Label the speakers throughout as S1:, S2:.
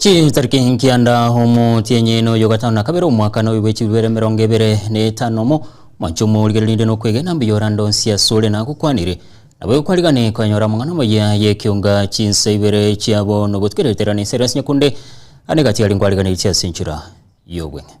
S1: Chitariki nkianda omotienyi na oyo gatano na kabere omwaka na oyo bwechibere emerongo ebere na etano mo mwancho omorigere rinde na okwegena mbuya orande onsi asore na agokwanire nabo ekwarigane konyora amang'ana amaya y'ekeunga chinsa ibere chiabo na ogotigereterana esere ase nyakunde ane gati aria nkwariganeiche ase enchera y'obweng'e.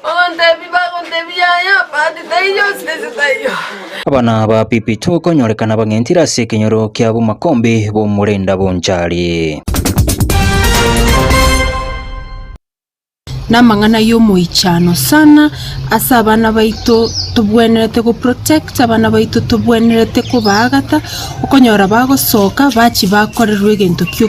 S2: Bagontebia, bagontebia, Yaya, but taiyo, sisi taiyo. Abana ba
S1: Pipito bakonyorekana bang'entire ase ekenyoro kia bomakombe b'omorenda bonchari.
S3: namang'ana yomoichano sana ase abana baito tobwenerete go protect abana baito tobwenerete kobaagata okonyora bagosoka bachi bakorerwa egento kio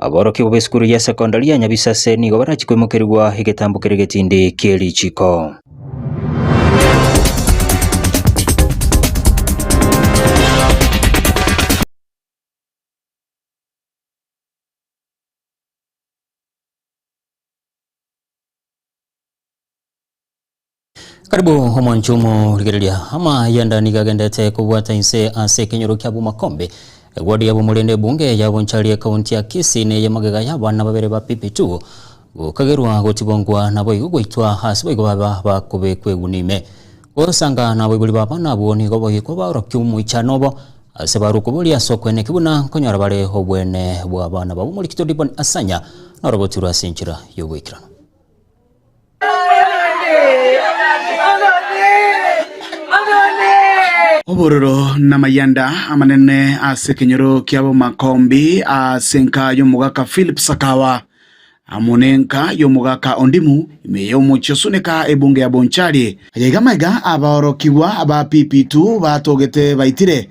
S1: Aborokigwa b'esukuru ya sekondari ya Nyabisase nigo barachie koimokerigwa egetambo kere getindi kie richiko. Karibu omwancho omorigereria. Amayanda nigo agendete kobwata inse ase ekenyoro kia Bumakombe. Ewodi ya Bumuri ende ebunge ya Bonchari ekaunti ya Kisii neye magega y'abana babere ba PP2 gokagerwa gotibongwa naboigo goitwa ase boigo baba bakobekwa eguni ime. Gosanga naboibori b'abana abwo nigo boyikwa baorokia omoichano obo ase barokwo boria ase okoeneki buna nkonyora bare obwene bw'abana babo. Omorikito Dibon Asanya norobotu rwo ase enchera y'ogoikeranu.
S4: Obororo namayanda amanene ase ekenyoro ki'abomakombi ase enka y'omogaka Philip Sakawa, amo nenka y'omogaka Ondimu, ime y'omochie osuneka ebunga ya Bonchari. Ayaiga maiga abaorokigwa ba Pipitu batogete baitire,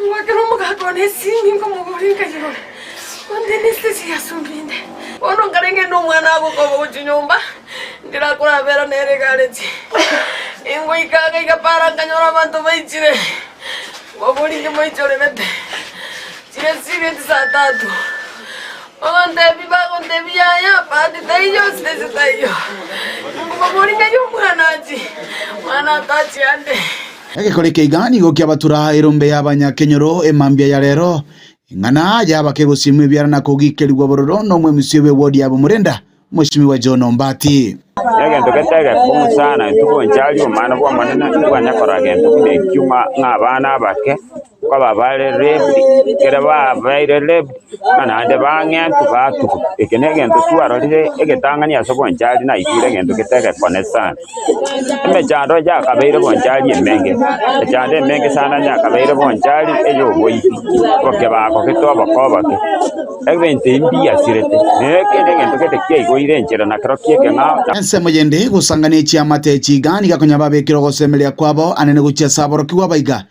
S2: Ngwakera omogaka one esimi, nkomogora enkayerore, onde nesete chiasumbi inde. Bono nkarenge inde omwana agokoba gochia nyomba, ndirakorabera nere egareti. Ingoika iga iga para nkanyora abanto baichire, ngobori inche moichorerete, chire chire chisaa tatu. Bagantebia bagontebia yaya, bahati taiyo, siteche taiyo. Inkobabori ng'ai omwana achie, omwana atachia ande. Egekori keiga
S4: nigo kiabatura erombe y'abanyakenyoro e mambia ya rero, eng'ana y'abakegosiimwa ebiara na kogiikerigwa bororo n'omwemusiobi obw'Odiabo Murenda, moisimi wa John Ombati. Egento getaiga
S5: ekong'u sana intwe gocha aria Omwana bw'Omonene, intwe twanyakorora gento buna ekio ng'a abana abake. Nkobaa bare left, ekero babaire left, na naende bang'entwa batuba. Eke negento twarorire egetang'ani ase obwanchari naigure egento gete egekone sana. Emechando yakabeire obwanchari emenge, emechando emenge sana yakabeire obwanchari eyoboibi, obokebago gete oboko oboke. Ebinto ebi mbiasirete, na eke negento gete kiaigoire enchera na kero kie ekeng'ao na Ensemo yende,
S4: gosangania echiamate echiga niga konya babekire ogosemeria kwabo anene gochia ase aborokigwa baiga.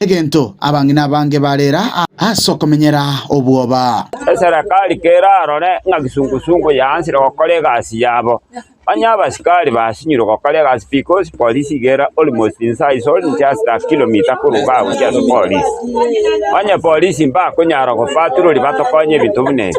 S4: Egento abang'ina abange barera ase okomenyera obwoba. Eserekari
S5: kerarore ng'a kisungusungu yaansire gokora egasi yabo, onye abasikari basinyirwe gokora egasi because police iga ere almost inside it's only just a kilometer koruga gochia ase police. Onye police mbakonyara gopatroli batokonye ebinto buna ebi.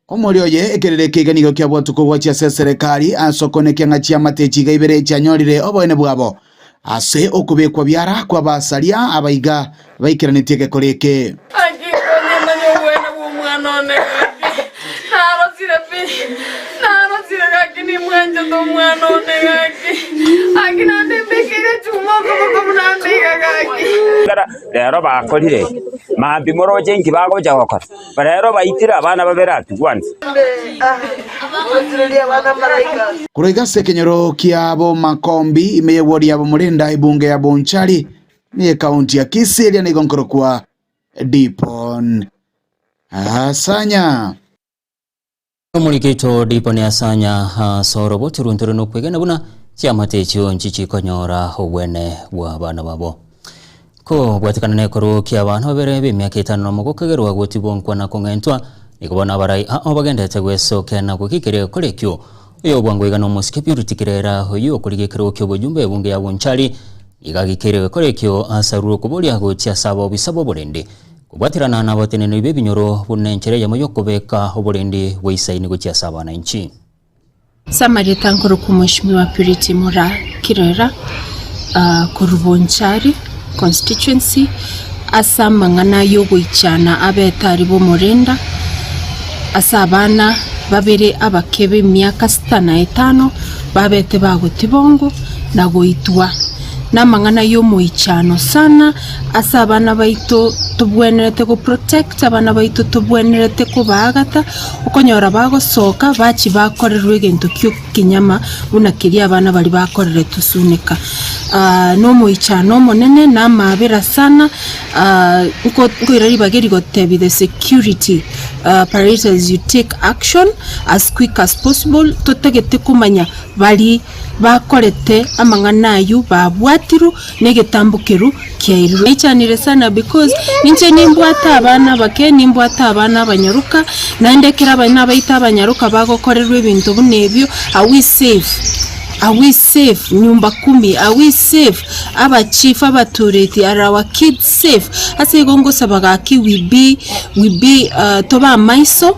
S2: Omorero oye
S4: ekerere keiga nigo kiabwatwe kogwachia ase eserekari ase okonekia ng'a chiamate echi iga ibere chianyorire oboene bwabo ase okobekwa biara kw'abasaria abaiga baikeranetie egekore eke. Naki nkomanya
S2: oboene bw'omwana one gaki, narosire pi, narosire gaki nimwanchete omwana one gaki, gaki naende mbekeire chuma okoboko buna nde iga gaki. Ekero rero
S5: bakorire, mambia moroche inki bagocha gokora? Barero baitire abana babere aa tugwansa.
S4: Koroika ase ekenyoro kia Bomakombi, ime y'egwori ya Bomorenda, ebunge ya Bonchari, na y'ekaunti ya Kisii eria nigo nkorokwa Dipon. Asanya.
S1: Omorikito ripo neasanya asoro boturunture nokwegena buna chiamate echio nchi chikonyora obwene bw'abana babo. Ko bwatikana nekorwa kia abana babere b'emiaka etano nomo gokegerwa gotibonkwa na kong'entwa, nigo bono abarai ao bagendete gwesokena goika ekero egokora ekio. Oyo obwangwa iga nomosikepi oritikire era oyio okorigia ekero kia obojumbe ebunge ya Bonchari nigo agikeirie gokora ekio ase arure okoboria gochia ase abobisa b'oborende. Kobwaterana nabateneneri b'ebinyoro buna enchera eyemo y'okobeka oborindi bw'eisaini gochia ase abananchi. Ase
S3: amarieta nkorokwa Mweshimiwa Purity Mura Kirera korwa Bonchari Constituency ase amang'ana y'ogoichana abete aria b'omorenda ase abana babere abake b'emiaka sita na etano babete bagotibongwa na goitwa namang'ana y'omoichano sana ase abana baito tobwenerete go protect abana baito tobwenerete kobaagata, okonyora bagosoka bachi bakorerwa egento kia ekenyama buna keria abana baria bakoreretwe suneka. Aah na omoichano omonene na amaabera sana aah nko- nkoira ribaga eri gotebi the security operators you take action as quick as possible totagete komanya bari bakorete amang'ana aywo babwatirwe. negetambo kerwo kiairirwe. Naichanire sana because ninche nimbwate abana abake, nimbwate abana abanyaroka, naende ekero abana baito abanyaroka bagokorerwa ebinto buna ebio, are we safe? Are we safe? Nyumba kumi, are we safe? Aba chief abatureti, are our kids safe? Ase igo ngosaba gaki we be, we be, tobe amaiso.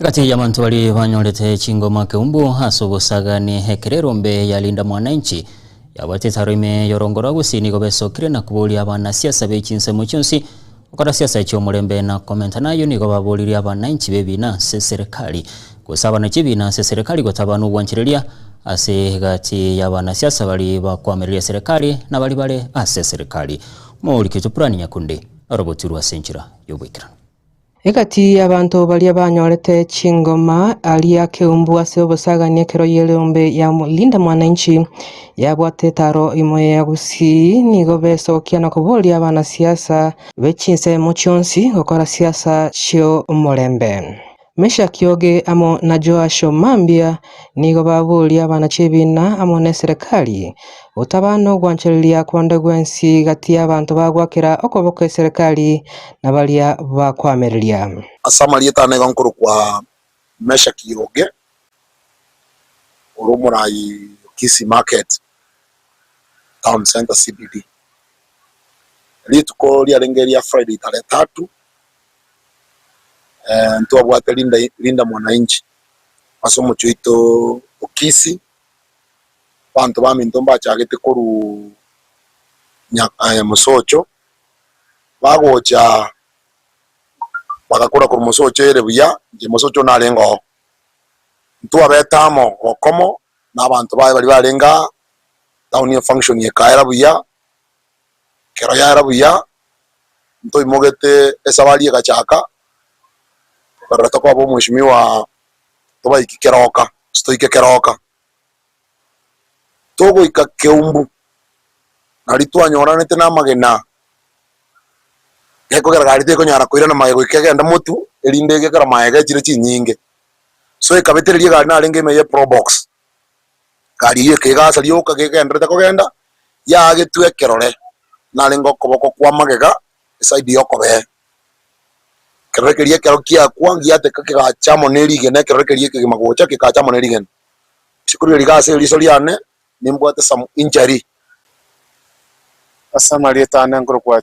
S1: Egati y'abanto baria banyorete chingoma keumbu ase obosagani, Ekererombe ya Linda Mwananchi yabwate etaro ime y'orongo rwa Gusii nigo besokire na koboria abanasiasa be chinsemo chionsi gokora siasa chi'omorembe na komentana ayio nigo baboririe abananchi b'ebiina ase serekari gosabana chi'ebiina ase serekari gotabana obwanchereria ase egati y'abanasiasa baria bakwamereria serekari na baria bare ase serekari. Omorikito Purani Nyakundi arabwotirwe ase enchera y'oboikeranu. Egati
S6: y'abanto baria banyorete chingoma aria akeumbu ase obosagani ekero y'erombe ya Linda Mwananchi yabwate etaro imo ya gusii nigo besokia na koboria abanasiasa be chinsemo chionsi gokora siasa chi'omorembe. Meshaki oge amo na Joashu mambia nigo baboria abana chi'ebiina amo n'eserekari, gotaba nogwanchereria konde gwensi gati y'abanto bagwakera okoboko eserekari na baria bakwamereria. Ase amarieta aa
S7: nigo nkorokwa Meshaki oge, ore omorai o Kisii Market Town Centre, CBD. Rituko riarenge eria Friday tarehe tatu ntwabwate Linda Mwananchi ase omochie oito o Kisii, abanto baminto mbachagete korwa Nyamosocho, bagocha bagakora korwa Nyamosocho ere buya, Nyamosocho narenge oo, ntwabete amo bokomo na abanto baye baria barenge aa, town eye function ekaera buya. Ekero yara buya, ntoimogete esabari egachaka, tokarora tokoba omweshimiwa tobaiki keroka, gose toike keroka. Togoika Kiumbu, nari twanyoranete namagena, gekogera gari tekonyara koirana magega goika egende Motu, erinde egekora magega echire chinyinge. So ekabetereria egari narenge ime ya probox, Egari eyio ekegasa rioka gegenderete kogenda, yagetwa ekerore narenge okoboko kwa magega eside y'okobee. Ekerore keria ekero kiakwa ngiateka kegacha amo ne rigena ekerore keria ekegima gocha kegacha amo ne rigena. Ase kori riria rigasa eriso riane nimbwate some injury.
S8: Ase amarieta ane nkorokwa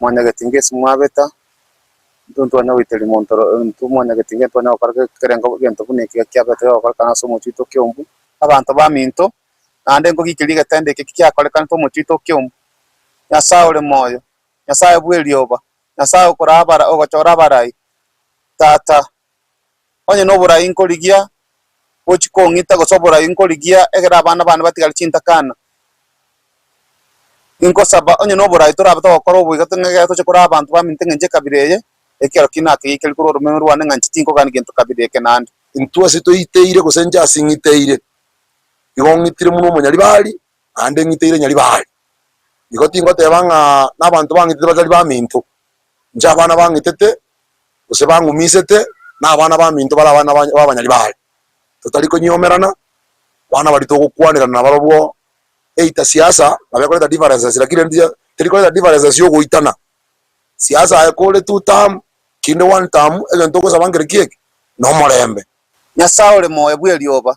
S8: mwanyageti ngesi mwabeta, intwe ntwane goiteria monto oro, intwe mwanyageti nge ntwane gokora ge- kerengo gento buna eke ekiya kiabetire gokorekana ase omochie oke ombu, abanto baminto, naende nkogikeria egetende eke kiakorekanete omochie oito oke ombu, Nyasae ore moyo, Nyasae bw'erioba, Nyasae okora abara ogochora abarai, Tata, onye noborai nkorigia gochia kong'ita gose oborai nkorigia egere abana bane batigare chintakana, inkosaba onye noborai torabe togokora oboigo tong'a egere toche kore abanto baminto eng'encho ekabira eye, ekiagera ki naki gaikerigwe korwa oromeme rwane ng'a inche tinkogani gento kabira eke naende. Intwe ase toiteire
S7: gose inche ase ng'iteire, igo ng'itire buna omonyaribari, naende ng'iteire nyaribari. Igo tingoteba ng'a nabanto bang'itete batari baminto, Inche abana bang'itete, gose bang'umisete, na abana baminto bare abana b'abanyari baye, totari konyiomerana, abana baria togokwanerana nabarobwo, either siasa nabo ekoreta differences lakini rende iga teri koreta differences ya ogoitana, siasa aye kore two term, kinde one term, egento ogosaba nkere ki eke? Nomorembe. Nyasae ore
S8: moyo bw'erioba,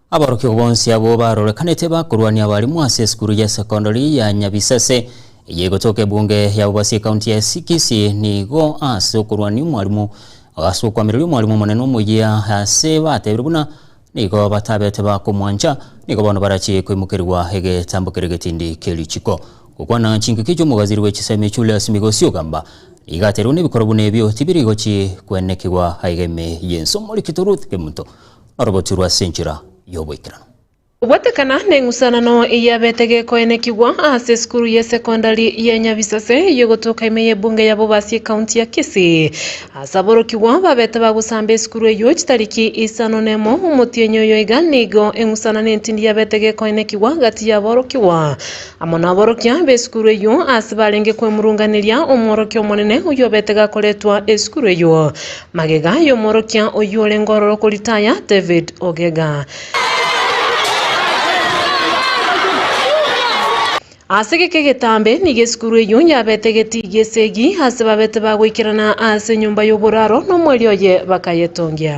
S1: Aborokigwa bonsi abwo barorekanete bakorwania abarimwa ase esukuru ya sekondari ya Nyabisase, eye egotoka ebunge ya Bobasi ekaunti ya Kisii. Nigo ase okorwania omwarimu ase okoamereria omwarimu omonene omoyia ase batebire buna nigo batabete bakomwancha, nigo bono barachie koimokerigwa egetambo kere getindi kie richiko. Gokwana chinkiki chi'omogaziri bwe chisemi Julius Migosi ogamba nigo aterigwe nebikoro buna ebio tibiri gochie kwenekigwa aegeme y'ense. Omorikito Ruth Kemunto Orogochurwa ase enchera y'oboikeranu. Goetekana
S3: neng'usanano eyabete gekoenekigwa ase esukuru ye secondary ye Nyabisase eyogotoka ime ye Bunge ya Bobasi ecounty ya Kisii ase aborokigwa babete bagosamba esukuru eyio chitariki isano nemo omotienyi oyo iga nigo eng'usanano entindi yabete gekoenekigwa gati yaborokigwa amo naborokia besukuru eyio ase barenge kwemurunganeria omworokia omonene oyobete gakoretwa esukuru eyio Magega y'omworokia oyio orenge ororo koritaya, David Ogega. Ase geke getambe nigo esukuru eyio yabete egetii gi'esegi ase babete ba goikerana ase enyomba y'oboraro nomwerio oye bakayetongia.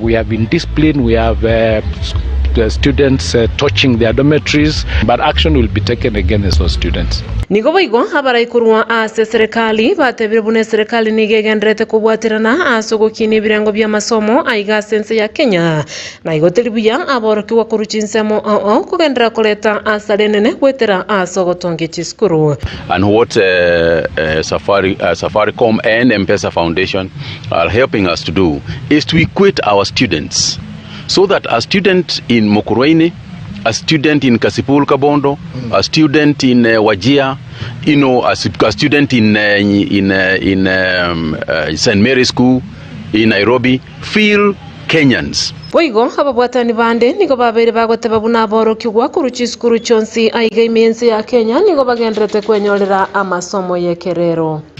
S9: We have been disciplined, we have students torching their dormitories, but action will be taken against those students. Nigo boigo
S3: abarai korwa ase eserekari batebire buna eserekari nigo egenderete kobwaterana ase ogokinia ebirengo bi'amasomo aiga ase ense ya Kenya, na igo teri buya aborokigwa korwa chinsemo oo kogenderera koreta asara enene goetera ase ogotongia chisukuru. And what
S10: Safaricom and M-Pesa Foundation are helping us to do is to equate our students so that a student in Mukurweini, a student in Kasipul Kabondo, mm. a student in uh, Wajia, you know, a, a student in uh, in uh, in um, uh, St Mary's School in Nairobi feel Kenyans. Boigo ababwatani
S3: bande nigo babeire bagoteba buna aborokigwa korwa chisukuru chionsi aiga ime ense ya Kenya nigo bagenderete kwenyorera amasomo y'ekerero.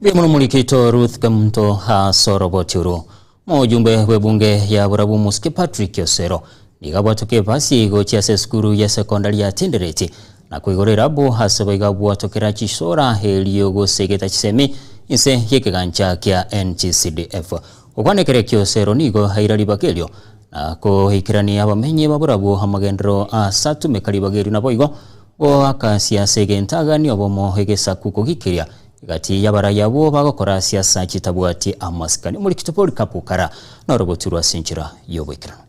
S1: Mbuya mono Omorikito Ruth Kamunto ase oroboti oro. Moyombe bw'ebunge ya Burabu Omosike Patrick Osero nigo abwatoke ebasi gochia ase esukuru ya sekondari ya Tendereti na koigora erabu ase boigo abwatokera chisora erio gosegeta chisemi inse y'ekegancha kia NGCDF. Gokwana ekero ekio Osero nigo aira ribaga erio na koikerania abamenyi ba Burabu amagenderero ase atumeka ribaga erio naboigo goakasia ase egentagani obomo egesaku kogikiria Egati y'abarai abwo bagokora ase asa chitabwati amasikani, omorikito bw'orikapukara, n'orogotu rw'ase enchera y'oboikeranu.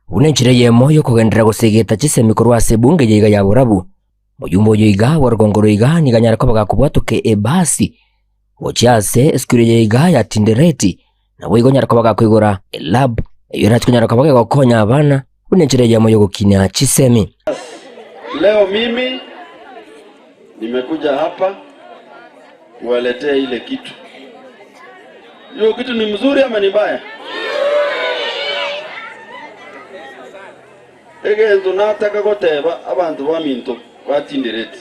S1: Buna
S11: enchera eyemo y'okogenderera gose egeta chisemi korwa ase ebunge yaiga ya borabu, moyomba oyo iga bw'orogongo roiga nigo anyare koba gakobwatoka ebaasi gochia ase esukuru eye iga ya Tindereti, Naboigo onyare koba gakoigora elab eyio erache konyara koba gegokonya abana buna enchera eyemo y'ogokinia chisemi. Leo
S12: mimi nimekuja hapa kuwaletea ile kitu. Hiyo kitu ni mzuri ama ni mbaya? Egento nataka goteba abanto baminto batindereti.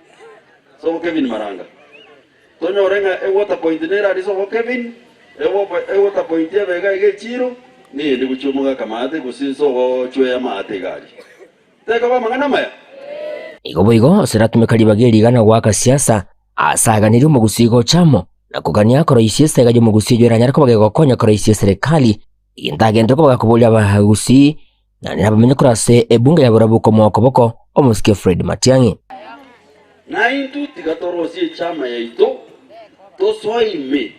S12: Sobo Kevin Maranga. Tonyore ng'a ewater point nere aria sobo Kevin, ewater point ebe iga iga echiiro, neyende gochia omogaka maate gose sobo chwea maate iga aria. Tekaba amang'ana amaya? Igo boigo
S11: oseratumeka ribaga eri iga na goaka siasa, asaaganerie omogusii gocha amo, na kogania koroisia esega y'omogusii eyo eranyare koba gegokonya koroisia eserekari, egento agenderire koba gakoboria abagusii, Na nabamenye korwa ase ebunga ya borabu komoa koboko omosike Fred Matiang'i.
S12: Naintwe tiga torosie echama yaito, tosoe ime,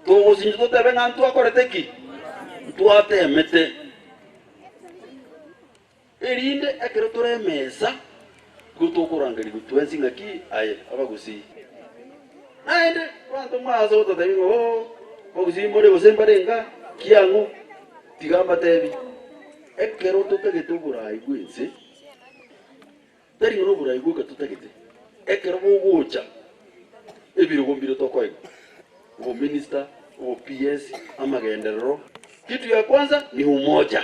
S12: togosinche totebe ng'a ntwakorete ki? Ntwateemete, erinde ekero tore emesa Nigo tokorangerigwa twensi ng'aki aye abagusii. Naende abanto mwaase gototeebia ng'a, Oo, abagusii more, gose mbare enga, ki ang'o? Tiga mbateebie, ekero totagete oboraai bw'ense, tari ng'a noboraai bwoka totagete, ekero bogocha, ebirogo mbire tokoigwa? Obominista, obo PS, amagenderero. Kitu ya kwanza ni umoja.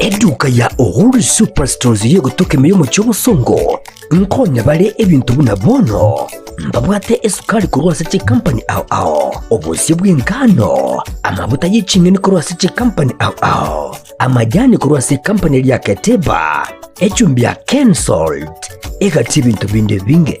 S11: Eduka ya Uhuru Superstores iri egotoka emeyo omochie obosongo nkonya bare ebinto buna bono mbabwate esukari korwa ase chikampani ao ao, obosio bw'engano, amabuta ye ching'eni korwa ase chikampani ao ao, amajani korwa ase ekampani eria Keteba, echumbi ya Kensalt, egati ebinto binde binge.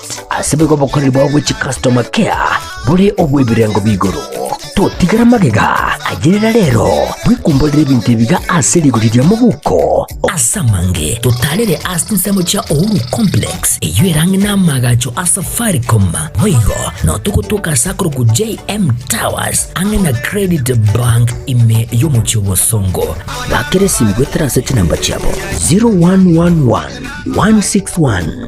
S11: Ase boigo obokoreri bwao bwe chicustomer care bore obw'ebirengo b'igoro. Totigara magega ayerera rero bwekumborere ebinto ebiga ase rigori ria mobuko. Ase amange totarere ase chinsemo chia Uhuru Complex eyio erange n'amaagacho a Safaricom. Boigo no togotoka ase akorokwa JM Towers ang'e na Credit Bank ime y'omochie o Bosongo. Bakera esimi goetera ase chinamba chiabo 0111 161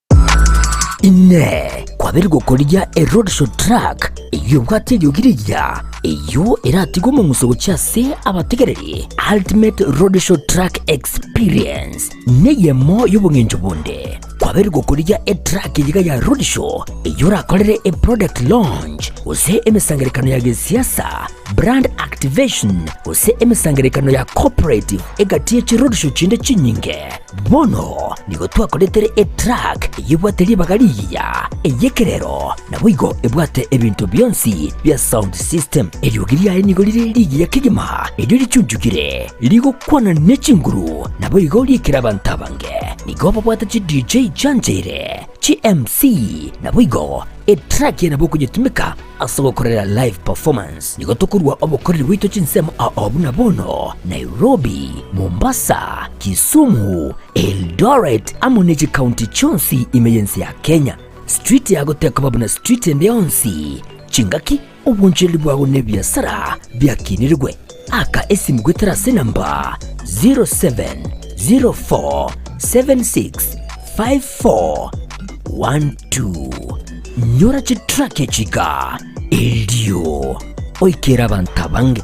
S11: Inee! Kwabire gokorigia e roadshow track eyio ebwate eriogi riria eyio eratige omong'uso gochia ase abategereri? Ultimate Roadshow Track Experience neyemo y'obong'encho bonde. Kwabire gokorigia e track eyiga ya roadshow eyio orakorere e product launch gose emesangerekano ya gesiasa Brand activation, gose emesangererekano ya corporate egati ye chirorisho chinde chinyinge. Bono nigo twakoretire etrack eyebwate ribaga rigiya, eyekerero, naboigo ebwate ebinto bionsi bia sound system. Eriogi riaye nigo rire rigiya kegima erio richunchugire, rigokwana ne chinguru naboigo riekire abanto abange. Nigo babwate chi DJ chianchaire, chi MC, naboigo etrack yane bokonyetumeka Ase gokorera live performance nigo tokorua obokoreri bwaito chinsemo ao buna bono, Nairobi, Mombasa, Kisumu, Eldoret amo ne chikaunti chionsi ime y'ense ya Kenya. Street yago tekoba buna street ende yonsi. Chingaki, obwanchereri bwago na ebiasara biakinirigwe. Aka esimu goetera ase enamba 0704765412. Nyora chitrack echika, erio oikere abanto abange.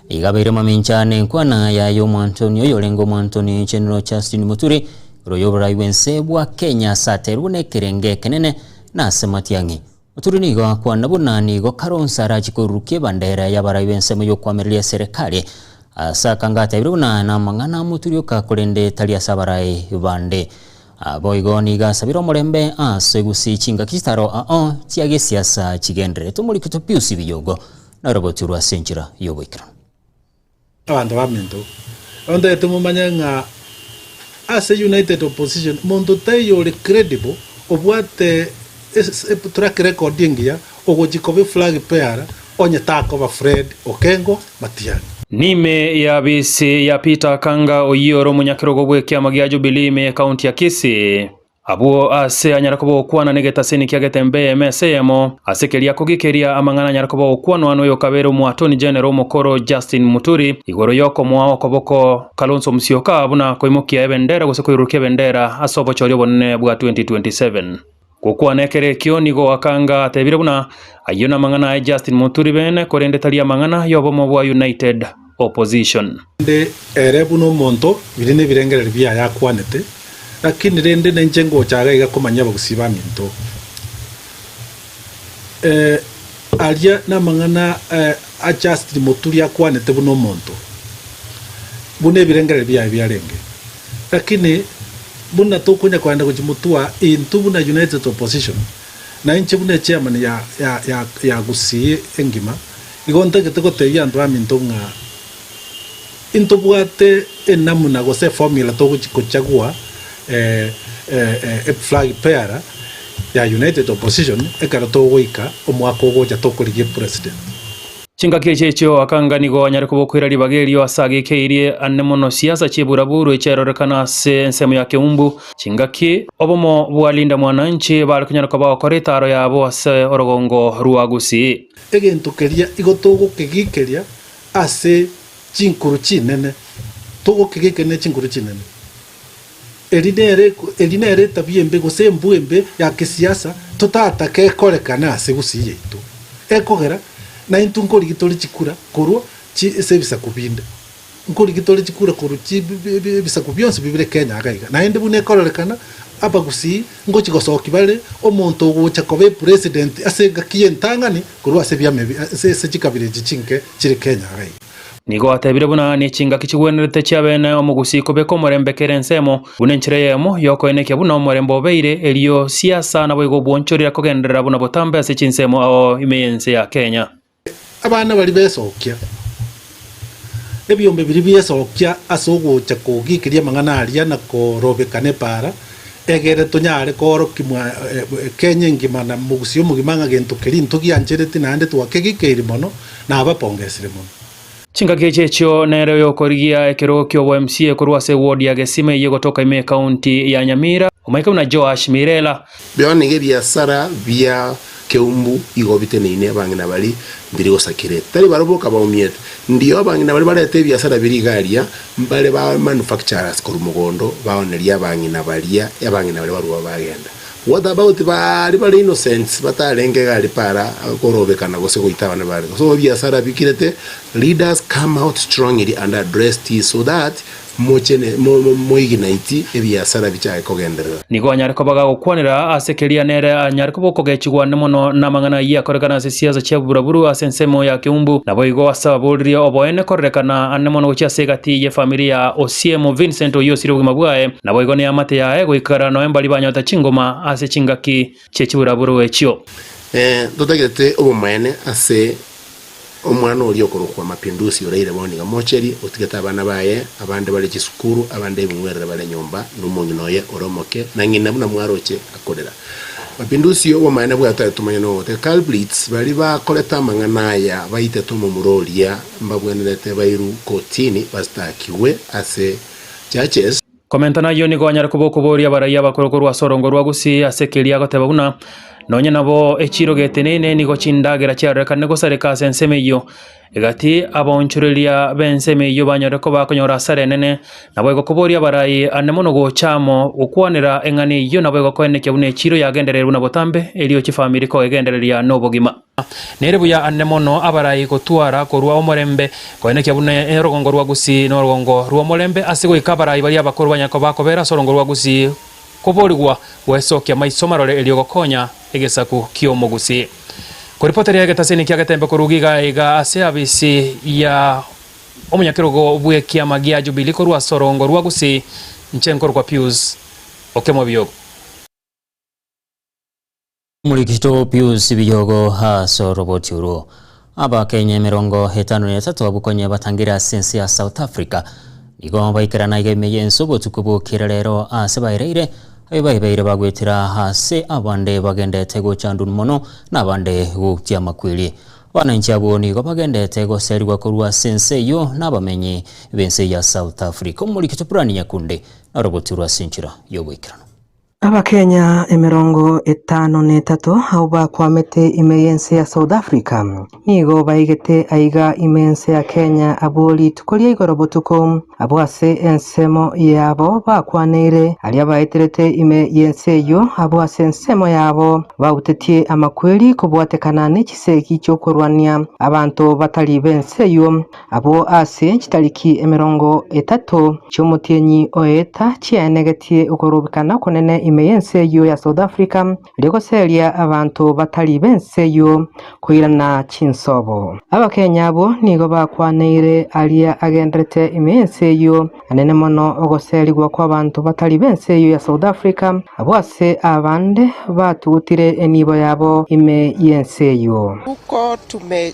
S1: Igabeire mamincha ane enkwana yaye y'omwanchoni oyorenge omwanchoni chenero Justine Muturi, ore oyoborai bw'ense bwa Kenya ase aterwe nekerenge ekenene na ase Matiang'i. Muturi nigo akwana buna nigo Kalonzo arachie korurukia ebandera y'abarai b'ensemo y'okwamereria eserekari ase akanga atebirie buna namang'ana a Muturi oka korende tari ase abarai bande. Boigo nigo asabire omorembe ase gusii chingaki chitaro ao chiagesiasa chigendererete. Omorikito Pius Biyogo naroboturwe ase enchera y'oboikeranu.
S13: Abanto b'Aminto, ntoete momanye ng'a ase United Opposition monto taiyo ore credible obwate track record engiya ogochia koba eflag bearer onye takoba Fred Okengo Matiang'i. Niime
S14: y'abisi ya Peter Akanga oyio ore omonyakerogo bw'ekiama gia Jubilee ime y'ekaunti ya Kisii. Abwo aase anyare koba ogokwana negetaseni kiagete embe eyemo ase eyemo, ase keria kogi keria amang'ana anyare koba ogokwanwa noyokabeire omoatoni genero omokoro Justin Muturi igoro yokomoa okoboko Kalonso Musyoka buna koimokia ebendera gose koirurukia ebendera ase obochori obonene bwa 2027. Gokwana ekero ekio nigo Akanga atebire buna, Ayio namang'ana aye Justin Muturi bene korende tari amang'ana yobomo bwa United. opposition. Rende
S13: ere buna omonto, biria nebirengererio biaye akwanete, lakini rende ninche ngocha iga iga komanyia abagusii baminto. Eh, aria namang'ana eh, a Justin Muturi akwanete buna omonto, buna ebirengererio biaye biarenge, lakini buna tokonya kogenda gochia motwa intwe buna United Opposition, Na inche buna echairman ya Gusii engima, igo ntagete gotebia anto aminto ng'a intobwate enamuna gose eformula togochia kochagua flag bearer ya United Opposition ekero togoika omwaka ogocha tokorigia epresident. Chingaki
S14: echi echio akanga nigo anyare kobokwera ribaga erio ase agekeirie ande mono siasa chi'eburaburu echiarorekana ase ensemo ya Keumbu. Chingaki obomo bwa Linda Mwananchi bare konyara koba gokora etaaro yabo ase orogongo rwa Gusii. Egento keria
S13: igo togokegikeria ase chinkuru chinene, togokegikeria ne chinkuru chinene. Eri nere eri nere etabia embe gose embwe embe ya kesiasa totataka ekorekane ase gusii yaito. Ekogera naintwe nkorigi tore chikura korwa chi ase ebisaku binde. Nkorigi tore chikura korwa chi bi bi bi ebisaku bionsi bibire Kenya iga iga. Naende buna ekororekana abagusii ngochi gosoki bare omonto ogocha koba epresident ase engaki y'entang'ani korwa ase ebiama ebi ase ase chikabira echi chinke chire Kenya iga iga. Nigo atebire
S14: buna nechingaki chigwenerete chi'abene omogusi kobeka omorembe kera ensemo, buna enchera eyemo y'okoenekia buna omorembe obeire, erio siasa naboigo obwonchorera kogenderera buna botambe ase chinsemo ao ime y'ense ya Kenya. Abana baria
S13: besokia ebiombe biria biesokia ase ogocha kogikiria amang'ana aria na korobeka nepaara, egere tonyare koorokia Kenya engima na mogusi omogima ng'a gento keria intwe gianchereti naende twakegikeiri mono. nabapongeresire mono. Chingaki echi echio
S14: nere oyokorigia ekerogo ki'obo MCA korwa ase ewodi ya Gesima eyio gotoka ime ekaunti ya Nyamira, omoika buna Joash Mirela. Bio nigo ebiasara
S15: bia Keumbu igo biteneine abang'ina bari mbiri gosakirete. Tari barabwo boka baumiete. Ndio abang'ina bari barete ebiasara biria iga aria, mbare ba manufacturers korwa mogondo baonerie abang'ina baria, abang'ina baria barua bagenda. What about baria bare innocents batarenge iga ari para korobekana gose goita abana bare gose ebiasara bikirete, leaders come out strongly and address this so that mochene moignite ebiasara bichake kogenderera. Nigo anyare koba
S14: gagokwanera ase keria nere anyare koba okogechigwa ande mono namang'ana ayio akorekana ase siasa chia oboraburu ase ensemo ya keumbu naboigo ase ababoririe oboene korerekana ande mono gochia ase egati ye familia Osiemo Vincent oyio osire obogima bwaye Naboigo neamate yaye goikara noe mbaria banyota chingoma ase chingaki chie chiburaburo echio. Ee, ntotagete
S15: obomoene ase omwana oria okorokwa Mapinduzi oraire bono iga mocherie, otigete abana baye, abande bare chisukuru, abande ebing'werere bare nyomba, na omong'ina oye ore omoke, na ng'ina buna mwaroche akorera. Mapinduzi, obomaene bwaye tari tomanyeti nogote. Karl Blitz, baria bakorete amang'ana aya baitete omomura oria mbabwenerete bairu kotini bastakiwe ase churches. Komenta nayio nigo
S14: anyare koba okoboria abaraiyo abakoro korwa ase orongo rwa Gusii ase keria agoteba buna, Nonye nabo echiro geteneine nigo chindagera chiarorekane gosareka ase ensemo eyio, egati abaonchoreria b'ensemo eyio banyore koba akonyora asara enene, nabo egokoboria abarai ande mono gocha amo gokwanera eng'ana eyio nabo egokoenekia buna echiro yagendereire buna botambe, erio chifamiri koegendereria nobogima. Nere buya ande mono abarai gotwara korwa omorembe koenekia buna orogongo rwa Gusii n'orogongo rw'omorembe ase goika abarai baria abakoro banyare koba kobera ase orogongo rwa Gusii koborigwa goesokia maiso marore erio gokonya egesaku ki'Omogusii koripoteria egetasini kia getembe korwa iga iga ase afisi ya omonyakerogo bw'ekiama gia Jubilee korwa ase orogongo rwa Gusii inche nkorokwa Pius Okemwa Biogo.
S1: Omorikito Pius Biyogo ase oroboti orwo. Abakenya emerongo etano na etato abwo konya batangire ase ense ya South Africa nigo baikerana iga ime y'ense obotuko bokire rero ase baereire abe baibeire bagwetera ase abande bagendete gochandun mono na abande goutia amakweri. Abananchi abwo nigo bagendete goserigwa korwa ase ense eyio na abamenyi b'ense ya South Africa. Omorikito Brian Nyakundi na oroboti orwo ase enchera y'ogoikerana. Abakenya
S6: emerongo etano na etato abwo bakwamete ime y'ense ya South Africa nigo baigete aiga ime ense ya Kenya abwo rituko ria igoro botuko abwo ase ensemo yabo bakwaneire aria baeterete ime y'ense eyio abwo ase ensemo yabo bautetie amakweri kobwatekana nechisegi chiokorwania abanto batari b'ense eyio Abwo ase chitariki emerongo etato chi'omotienyi o eeta chiaenegetie okorobekana okonene ime y'ense eyio ya South Africa rigoseria abanto batari b'ense eyio koirana chinsobo. Abakenya abwo nigo bakwaneire aria agenderete ime y'ense eyio anene mono ogoserigwa kw'abanto batari b'ense eyio ya South Africa abwo ase abande batugutire enibo yabo ime y'ense eyio. Uko tume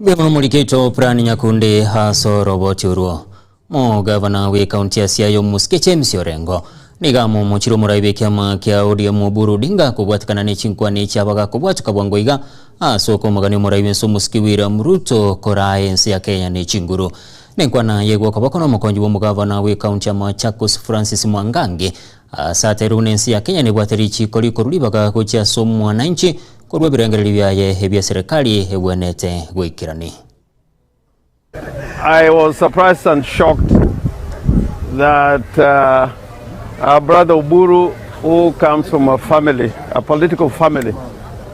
S1: Bwema morikeito Plan Nyakundi ase oroboti orwo. Mogavana bw'ekaunti ya Siaya omosike James Orengo nigo amomochire omorai bw'ekiama kia ODM Oburu Odinga kobwatekana nechinkwana echia bagakobwatuka bwango iga ase okomogania omorai bw'ense omosike William Ruto koraa ense ya Kenya nechinguru. Nenkwana yaigwa okoboko nomokonyi bw'omogavana bw'ekaunti ya Machakos Francis Mwangangi Aase ateirwe buna ense ya Kenya nebwate richiiko rikorwa ribaga gochia ase omwananchi korwa ebirengererio biaye ebia serikali egwenerete goikerania.
S16: I was surprised and shocked that our brother Oburu who comes from a family, a political family,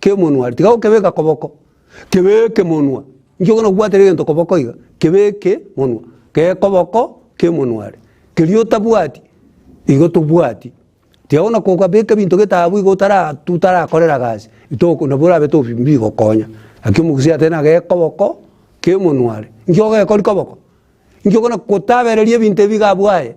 S2: kemonwa aria, tiga gokebeka koboko, kebeke monwa, inki okona gobwatera egento koboko iga, kebeke monwa, kee koboko kemonwa aria, keria otabwati igo tobwati, tiga bono kogabeka ebinto gete abwo igo otara otarakorera gasi, itoko nabo orabe tobi mbigokonya, naki omogusii ateba na gekoboko kemonwa aria, inki ogekori koboko? inki okona gotabereria ebinto ebi iga abwo aye.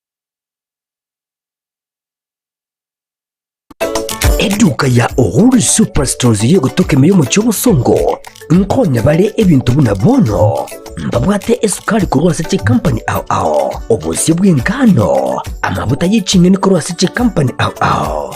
S11: Eduka ya Uhuru Superstores yegotoka emeyo omochie obosongo nkonya bare ebinto buna bono mbabwate esukari korwa ase chikampani ao ao, obosio bw'engano, amabuta ye ching'eni korwa ase chikampani ao ao,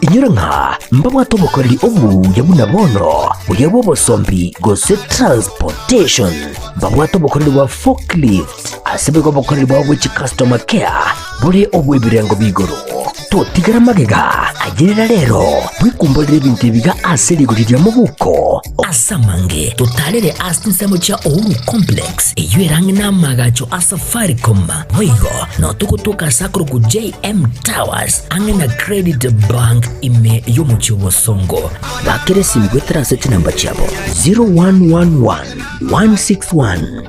S11: Inyora ng'a mbabwate obokoreri obuya buna bono, buya bw'obosombi gose transportation. Mbabwate obokoreri bwa forklift, ase boigo obokoreri bwabo bwe chicustomer care bore obw'ebirengo bi'igoro. Totigara magega ayerera rero bwekumborere ebinto ebiga ase rigori ria mobuko. Ase amange totarere ase chinsemo chia Uhuru Complex, eyio erang'e n'amaagacho a Safaricom, boigo nao togotoka ase akorokwa JM Towers ang'e na Credit Bank ime y'omochie o Bosongo. Bakera esimu goetera ase chinamba chiabo 0111 161